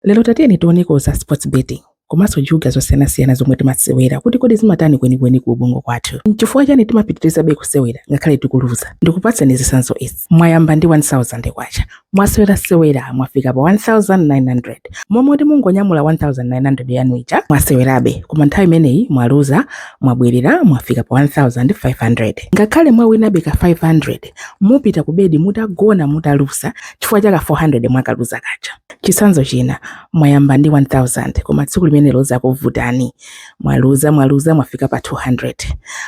Lero tatiyeni tioneko za sports betting komanso juga zosiyanasiyana zomwe timasewera kuti kodi zimatani kwenikweni ku ubongo kwathu. N'chifukwa chani timapitirizabe kusewera ngakhale tikuluza? Ndikupatseni zitsanzo izi. Mwayamba ndi 1000 kwacha, mwasewerasewera mwafika pa 1900 m'malo moti mungonyamula 1900 yanu ija mwasewerabe, koma nthawi imeneyi mwaluza, mwabwerera mwafika pa 1500. Ngakhale mwawinabe ka 500 mupita ku bed mutagona mutaluza chifukwa cha ka 400 mwakaluza kaja. Chitsanzo china, mwayamba ndi 1,000 koma tsiku limenelo zakuvutani, mwaluza mwaluza mwafika pa 200.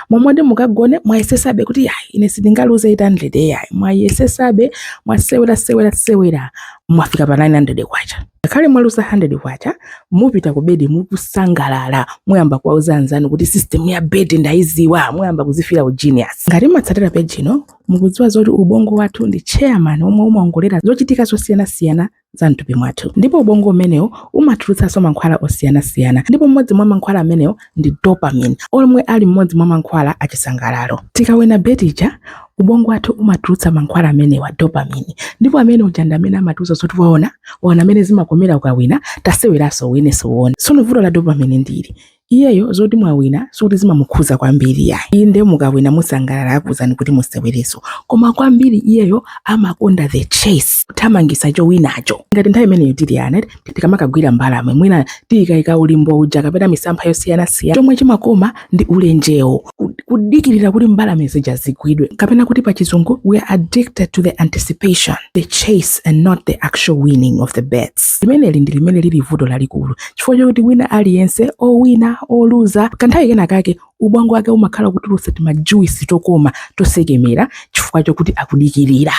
M'malo moti mukagone mwayesesabe kuti yayi ine sindingaluze 800 yayi, mwayesesabe mwasewera sewera sewera mwafika pa 900 kwacha. Ngakhale mwaluza 100 kwacha, mupita ku bed mukusangalala, muyamba kuwauza anzanu kuti system ya beti ndaiziwa, muyamba kuzifira u genius. Ngati mwatsatira page ino mukudziwa zoti ubongo wathu ndi chairman omwe umaongolera zochitika zosiyanasiyana za mthupi mwathu ndipo ubongo umenewo umatulutsanso mankhwala osiyanasiyana ndipo mmodzi mwa mankhwala amenewo ndi dopamine omwe ali mmodzi mwa mankhwala achisangalalo tikawina beti ija ubongo wathu umatulutsa mankhwala amenewa dopamine ndipo ameneyo ndi amene amatiuza zoti waona waona mmene zimakomera ukawina taseweranso uwinenso uone tsono vuto la dopamine ndi ili iyeyo zoti mwawina sikuti zimamukhuza kwambiri yayi inde mukawina musangalala akuwuzani kuti musewereso koma kwambiri iyeyo amakonda the chase kuthamangisa chowinacho ngati nthawi imeneyo tili ana tikamakagwira mbalame mwina taikaika ulimbo uja kapena misampha yosiyanasiyana chomwe chimakoma ndi ulenjewo kudikirira kuti mbalame zija zigwidwe kapena kuti pa chizungu we are addicted to the anticipation the chase and not the actual winning of the bets limeneli ndi limene lili vuto lalikulu chifukwa chokuti wina aliyense owina oluza kanthawi kena kake ubongo wake umakhala ukutulutsa timajuwisi tokoma tosekemera chifukwa chokuti akudikirira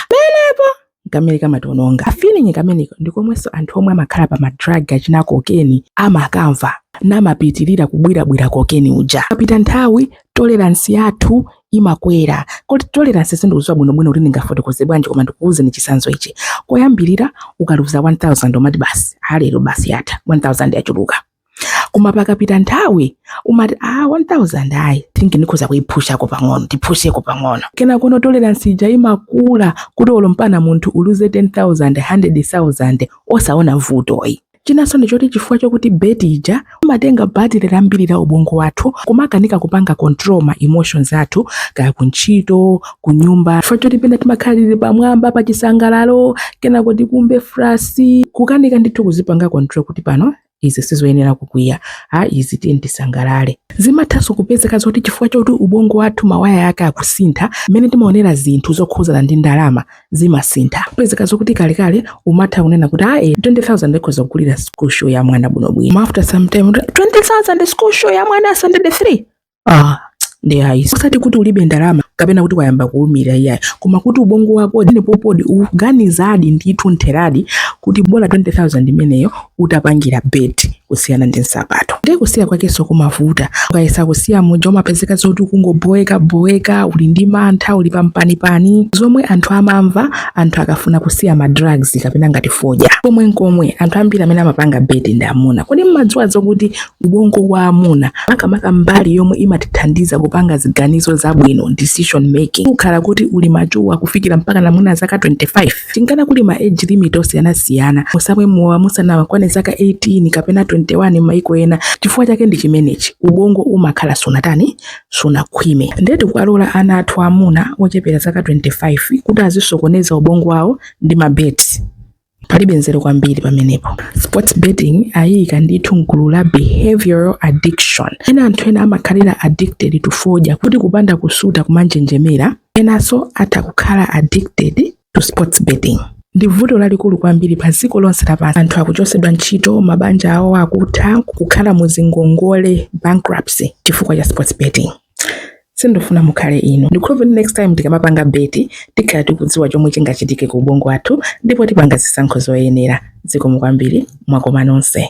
kameneka kamatiwononga. Ka feeling kameneko ndi komwenso anthu omwe amakhala pa ma drug achina cocaine amakamva namapitirira kubwirabwira cocaine uja. Pakapita nthawi tolerance yathu imakwera. Kuti tolerance sindikudziwa bwinobwino kuti ndingafotokoze bwanji koma ndikuwuzeni chitsanzo ichi. Koyambirira ukaluza 1000 umati basi ha lero basi yatha, 1000 yachuluka. koma pakapita nthawi umati a 1000 ayi think ndikhoza kuipushako pang'ono ndipusheko pang'ono kenakono tolerance ija imakula kuti olo mpaka munthu uluze 10000 100000 osaona vuto ayi chinanso ndi choti chifukwa chokuti beti ija imatenga batire lambiri la ubongo wathu kumakanika kupanga control ma emotions athu kaya kuntchito kunyumba chifukwa choti pena timakhala tili pamwamba pa chisangalalo kenako tikumve frus kukanika ndithu kuzipanga control kuti pano izi sizoyenera kukwiya a izi tiyeni tisangalale zimathanso kupezeka zoti chifukwa choti ubongo wathu mawaya ake akusintha mmene timaonera zinthu zokhuzana ndi ndalama zimasintha kupezeka zokuti kalekale umatha kunena kuti ah 20000 ikhoza kugulira school shoe ya mwana bwinobwino after some time 20000 school shoe ya mwana standard 3 ah ndi ayi osati kuti ulibe ndalama kapena kuti wayamba kuumira iyayi koma kuti ubongo wako ndiye pompo ukuganizadi ndithu mtheradi kuti bola 20000 imeneyo utapangira bet kusiyana ndi nsapato ndiye kusiya kwakenso kumavuta ukayesa kusiya muja umapezeka zoti ukungoboeka boeka uli ndi mantha uli pampanipani zomwe anthu amamva anthu akafuna kusiya ma drugs kapena ngati fodya komwe nkomwe anthu ambiri amene amapanga bet ndi amuna kodi mmadziwa zokuti ubongo wa amuna makamaka mbali yomwe imatithandiza kupanga ziganizo zabwino decision making umakhala kuti uli mature kufikira mpaka mwina zaka 25 chinkana kuli ma age limit osiyanasiyana musamwe mowa musanakwane zaka 18 kapena 21 m'maiko ena chifukwa chake ndi chimenechi ubongo umakhala usanatani usanakhwime ndiye tikuwalola ana athu amuna ochepera zaka 25 kuti azisokoneza ubongo wawo ndi ma bets palibe nzeru kwambiri pamenepo sports betting ayiyika ndithu mgulu la behavioral addiction mmene anthu ena amakhalira addicted to fodya kuti kupanda kusuta kumanjenjemera enanso atha kukhala addicted to sports betting ndi vuto lalikulu kwambiri pa dziko lonse lapansi anthu akuchotsedwa ntchito mabanja awo akutha kukhala muzingongole bankruptcy chifukwa cha sports betting sindifuna mukhale inu ndikukhulupirira next time tikamapanga beti tikhala tikudziwa chomwe chingachitike ku ubongo wathu ndipo tipanga zisankho zoyenera zikomo kwambiri mwakoma nonse